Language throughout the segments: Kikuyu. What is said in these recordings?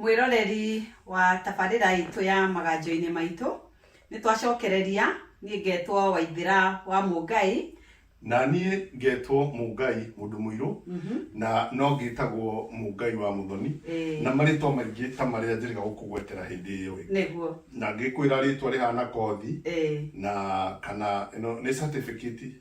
mwĩroreri wa tabarĩra itũ ya maganjo-inĩ maitũ nĩ twacokereria niĩ ngetwo waithĩra wa mũngai na niĩ ngetwo mũngai mũndũ mũirũ na no ngĩtagwo mũngai wa mũthoni Ĩĩ. na marĩtwa maingĩ ta marĩa njĩrĩga gũkũgwetera hĩndĩ ĩyo ĩ nĩguo na ngĩkwĩra rĩtwa rĩhana kothi Ĩĩ. na kana ĩno nĩ certificate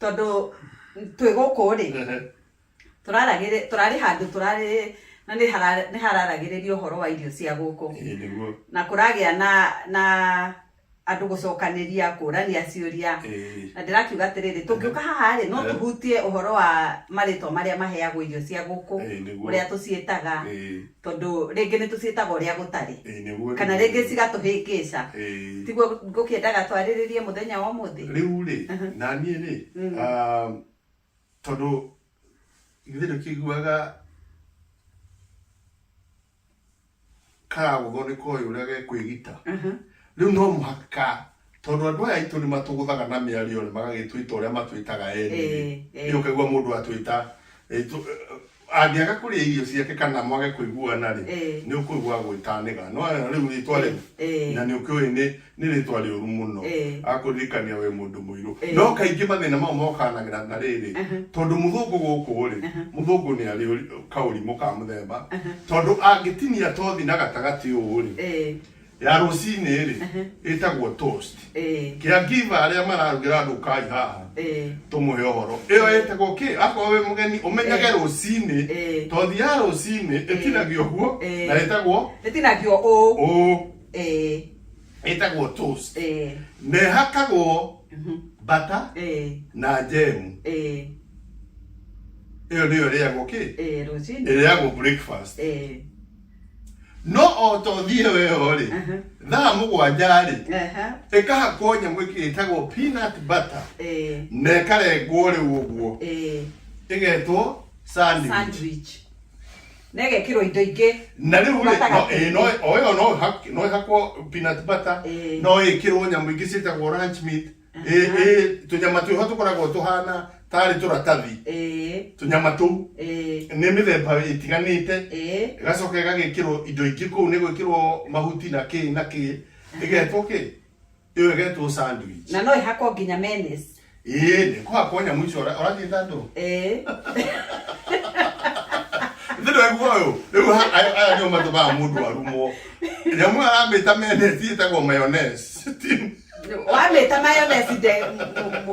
Tondũ twĩ gũkũ rĩ tũrarĩ handũ tũrarĩ na nĩ hararagĩrĩrio ũhoro wa irio cia gũkũ na kũragĩa na andũ gũcokanĩria kũrania ciũria na ndĩrakiuga atĩrĩrĩ tũngĩũka haha rĩ no tũhutie ũhoro wa marĩtwa marĩa maheagwo irio cia gũkũ ũrĩa tũciĩtaga Tondũ rĩngĩ nĩ tũciĩtaga ũrĩa gũtarĩ. Ĩĩ nĩguo rĩu. Kana rĩngĩ cigatũhĩngĩca. Ĩĩ. Tiguo ngũkĩendaga twarĩrĩrie mũthenya wa ũmũthĩ? Rĩu rĩ, na niĩ rĩ, tondũ githĩ ndũkĩiguaga karagũthwo nĩ koĩ ũrĩa gekwĩgita? Rĩu no mũhaka Tondũ andũ aya aitũ nĩmatũgũthaga na mĩario magagĩtwĩta ũrĩa matwĩtaga eni-rĩ, Ĩĩ, ĩĩ. rĩu ũkaigua mũndũ atwĩta ĩ, tũ- angĩaga kũrĩa irio ciake kana mwage kũiguana-rĩ, Ĩĩ. nĩũkũigua agwĩta nĩga. Nĩwona rĩu rĩtwa rĩu? Ĩĩ. Na nĩũkĩũĩ nĩ nĩ rĩtwa rĩũru mũno. Ĩĩ. Agakũririkania wĩ mũndũ mũirũ. Ĩĩ. No kaingĩ mathĩna mau mokanagĩra na rĩrĩ, tondũ mũthũngũ gũkũ-rĩ, mũthũngũ nĩarĩ ũri- kaũrimũ ka mũthemba, tondũ angĩtinia tothi na gatagatĩ ũũ-rĩ, Ĩĩ. ya rũcinĩ rĩ Ehe. ĩtagwo toast Eh, kia ngiva arĩa mararugĩra andũ kai haha eh, tũmũhe ũhoro ĩyo ĩtagwo kĩ akorwo wĩ mũgeni ũmenyage Eh. rũcinĩ Eh. tothi ya rũcinĩ ĩtinagio guo Eh. na ĩtagwo ĩtinagio ũũ ũũ Eh, ĩtagwo toast eh, na ĩhakagwo mhm, bata eh, na njemu eh, ĩyo nĩyo ĩrĩagwo kĩ eh, rũcinĩ ĩrĩagwo breakfast eh, no o ta ũthiĩ weo-rĩ Aha. thaa mũgwanja-rĩ Aha. ĩkahakwo nyamũ ĩngĩ ĩtagwo peanut butter Eh. na ĩkarengwo rĩu ũguo Eh. ĩgetwo sandwich Sandwich. Na ĩgekĩrwo indo ingĩ. na rĩu rĩ, no- Gatagatĩ-inĩ. ĩ, no- o ĩyo no ĩhak- no ĩhakwo peanut butter Eh. no ĩkĩrwo nyamũ ingĩ ciĩtagwo ranch meat Ĩ- Aha. ĩ, tũnyama twĩho tũkoragwo tũhana tarĩ tũratathi Ĩĩ, tũnyama tũu ĩĩ, nĩ mĩthemba ĩtiganĩte ĩĩ. ĩgacoka ĩgagĩkĩrwo indo ingĩ kũu nĩ gwĩkĩrwo mahuti na kĩ na kĩ ĩgetwo kĩ ĩyo ĩgetwo sandwich na no ĩhakwo nginya menes ĩĩ nĩ kũhakwo nyamũ icio ũra- ũrathiĩ tandũ ĩĩ nĩ ndwegua ũyũ rĩu ha- aya aya nĩo matũmaga mũndũ arumwo nyamũ ĩyo aramĩta menesi ĩtagwo mayonnaise wamĩta mayonesi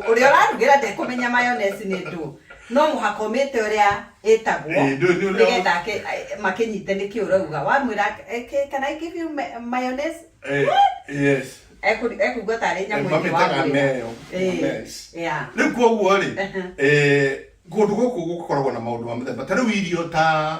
ũrĩa ũrarugĩra ndekũmenya mayonesi nĩ ndũ no mũhaka ũmĩte ũrĩa ĩtagwo Eh, ndũĩ nĩ ũrĩa- nĩgetha ake- eh, makĩnyite nĩkĩ ũrauga wamwĩra eh, ke- can I give you ma- mayonnaise Eh, yes Ekũ- ekũigua tarĩ Eh, nyamũ ĩngĩ mamĩtaga wamwĩra. neo Eh, mayonnaise. yeah. rĩu koguo rĩ eh, kũndũ gũkũ gũkoragwo na maũndũ ma mũthemba ta rĩu irio ta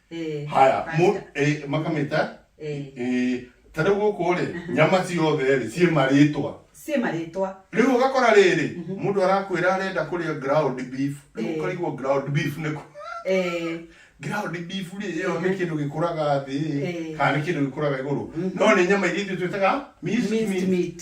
Eh, haya mu- Pastor. eh, makamĩta Eh. eh, ta rĩu gũkũ rĩ nyama ciothe rĩ ciĩ marĩtwa ciĩ marĩtwa rĩu ũgakora rĩrĩ mũndũ arakwĩra arenda kũrĩa ground beef rĩu Eh. ũkarigwo ground beef nĩ kũ Eh, ground beef rĩ ĩyo nĩ kĩndũ gĩkũraga thĩ Eh. kana nĩ kĩndũ gĩkũraga igũrũ no nĩ nyama iria ithuĩ twĩtaga minced minced meat. meat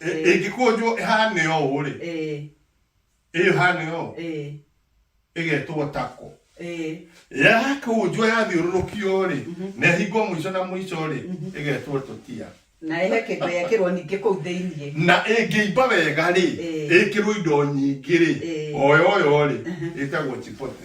Ĩ- Ĩ. ĩngĩkũnjwo ĩhane ũũ rĩ ĩ ĩyo ĩhane ũũ ĩ ĩgetwo tako ĩ yakũnjwo yathiũrũrũkio rĩ na ĩhingwo mũico na mũico rĩ ĩgetwo tũtia na ĩhe kĩndũ yekĩrwo ningĩ kũu thĩinĩ na ĩngĩimba wega rĩ Ĩ. ĩkĩrwo indo nyingĩ rĩ Ĩ. oyoyo rĩ ĩtagwo chipote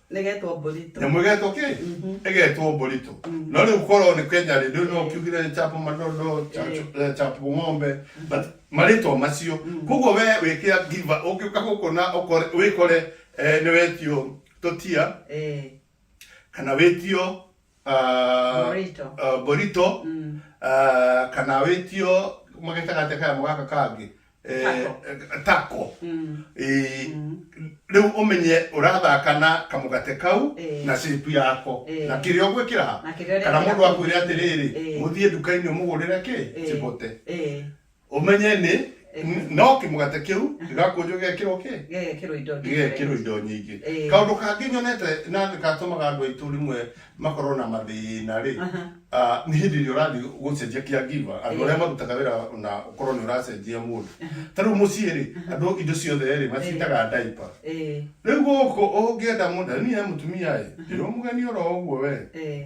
Nĩgetwo Mbũritũ. Nyamũ ĩgetwo kĩ? Ĩgetwo Mbũritũ. No rĩu korwo nĩ Kenya rĩ, ndũĩ no ũkiugire Chapo Madondo, Chacho- eh, Chapo Ng'ombe, but marĩtwa macio. Koguo we wĩkĩra give up, ũngĩũka gũkũ na ũkore, wĩkore eh, nĩwetio Totia, Eh. kana wĩtio Ah, Borito. ah, borito Mm. ah, kana wĩtio magetaga atĩa kayamo gaka kangĩ Eh, Tako. eh, tako Mm. Eh, Mm. rĩu ũmenye ũrathaka na kamũgate kau Eh. na shape yako Eh. na kĩrĩa ũgwĩkĩra ha Na kĩrĩa kana ũrekĩra mũndũ kũu akwĩre thĩinĩ. atĩrĩrĩ Eh. mũthiĩ nduka-inĩ ũmũgũrĩre kĩ Eh. chibote Eh. ũmenye nĩ Ĩhĩ. no kĩmũgate kĩu gĩgakunjwo gĩgekĩrwo kĩ gĩgekĩrwo indo gĩgekĩrwo indo nyingĩ Ĩĩ. kaũndũ kangĩ nyonete na gatũmaga andũ aitũ rĩmwe makorwo na mathĩna rĩ Aha. ah, nĩ hĩndĩ ĩrĩa ũrathiĩ gũcenjia kĩa ngiva andũ Ĩĩ. arĩa marutaga wĩra na ũkorwo nĩ ũracenjia mũndũ ta rĩu mũciĩ rĩ andũ indo ciothe rĩ macitaga ndaipa Ĩĩ, rĩu gũkũ ũngĩenda mũndũ niĩ he mũtumia ĩ ndĩrĩ mũgeni oro ũguo we ĩĩ.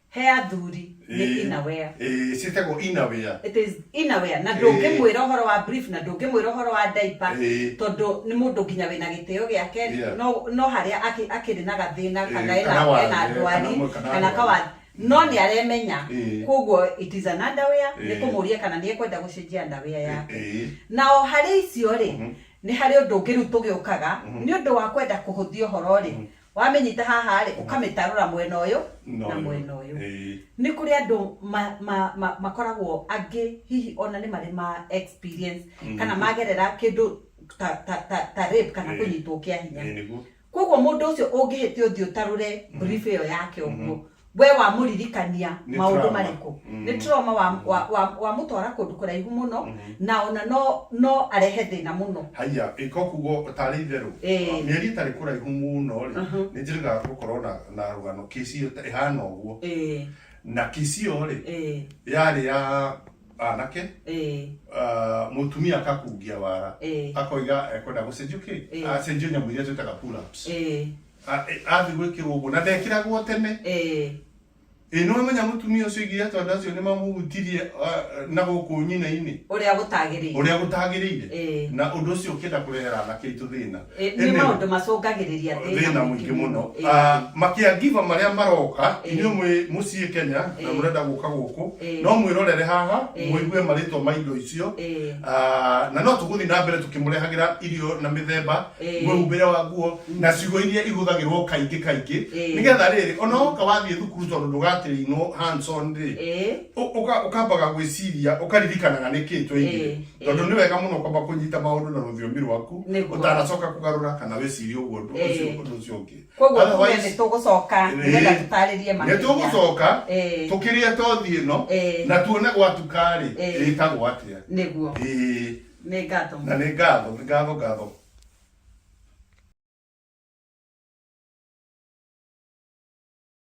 He athuri nĩ Ĩĩ. inawea. Ĩĩ, ciĩtagwo inawea. It is inawea na ndũngĩmwĩra ũhoro wa brief na ndũngĩmwĩra ũhoro wa diaper Ĩĩ. tondũ nĩ mũndũ nginya wĩna gĩtĩo gĩake Yeah. no no harĩa akĩ- akĩrĩ na gathĩna Ĩĩ, kana ena kana wathe, ena kana ndwari mwe- kana kana ndwari. kawathi no nĩ aremenya Ĩĩ. koguo it is an underwear Ĩĩ. nĩ kũmũria kana nĩ ekwenda gũcenjia underwear yake Ĩĩ. na o harĩ icio rĩ nĩ harĩ ũndũ ũngĩ rĩu tũgĩũkaga nĩ ũndũ wa kwenda kũhũthia ũhoro rĩ wamĩnyita haha rĩ ũkamĩtarũra mwena ũyũ No, na no. mwena ũyũ Ĩĩ. nĩ kũrĩ andũ ma- ma- ma- makoragwo angĩ hihi ona nĩ marĩ ma experience kana magerera kĩndũ ta, ta, ta, ta rape kana Ĩĩ. kũnyitwo kĩa hinya Ĩĩ, nĩguo koguo mũndũ ũcio ũngĩhĩtia ũthiĩ ũtarũre brief ĩyo yake ũguo we wamũririkania Nĩ maũndũ trauma. marĩkũ Mm. nĩ trauma wa- wa- wa- wamũtwara kũndũ kũraihu mũno na ona no no arehe thĩna mũno haiya ĩko kugo tarĩ itherũ Ĩĩ. mĩeri ĩtarĩ kũraihu mũno rĩ Mhm. nĩ njĩrĩga gũkorwo na, na rũgano kĩcio ta- ĩhana ũguo Ĩĩ, na kĩcio rĩ ĩĩ, yarĩ ya anake ĩĩ, ah, mũtumia akakungia wara ĩĩ, akoiga ekwenda gũcenjio Ĩĩ. kĩ acenjio nyamũ iria twĩtaga pull-ups ĩĩ, A- e- athiĩ gwĩkĩrwo ũguo na ndekĩragwo tene Eh, ĩ nĩ wamenya mũtumia ũcio igiria tondũ andũ acio nĩ mamũhutirie ah, na gũkũ nyina-inĩ ũrĩa gũtagĩrĩire ũrĩa gũtagĩrĩire Eh. na ũndũ ũcio ũkĩenda kũrehera anake aitũ thĩna Eh, nĩ Ĩmwe- maũndũ macũngagĩrĩria thĩna mũingĩ mũno Eh, Ah, makiangiva marĩa maroka Eh. inyuĩ mwĩ mũciĩ kenya na Eh. mũrenda gũka gũkũ Eh. no mwĩrorere haha Eh. mũigue marĩtwa ma indo icio eh, Ah, na no tũgũthiĩ na mbere tũkĩmũrehagĩra irio na mĩthemba Ĩĩ. mwĩhumbĩre wa nguo na ciugo iria ihũthagĩrwo kaingĩ kaingĩ Ĩĩ. nĩgetha rĩrĩ ona woka wathiĩ thukuru tondũ ndũgatĩrĩinwo hands on rĩ Ĩĩ. ũ- ũka- ũkambaga gwĩciria ũkaririkanaga nĩkĩ twaingire Ĩĩ, ĩĩ. tondũ nĩ wega mũno kwamba kũnyita maũndũ na rũthiomi rwaku Nĩguo. ũtanacoka kũgarũra kana wĩcirie ũguo ũndũ Ĩĩ. ũcio ũndũ ũcio ũngĩ koguo tuge Otherwise, nĩ tũgũcoka Ĩĩ. nĩgetha tũtarĩrie makĩria nĩtũgũcoka Ĩĩ. tũkĩrĩa tothi ĩno Ĩĩ. na tuone gwatuka-rĩ Ĩĩ. ĩtagwo atĩa nĩguo Ĩĩ. Nĩ ngatho. Na nĩ ngatho, nĩ ngatho ngatho.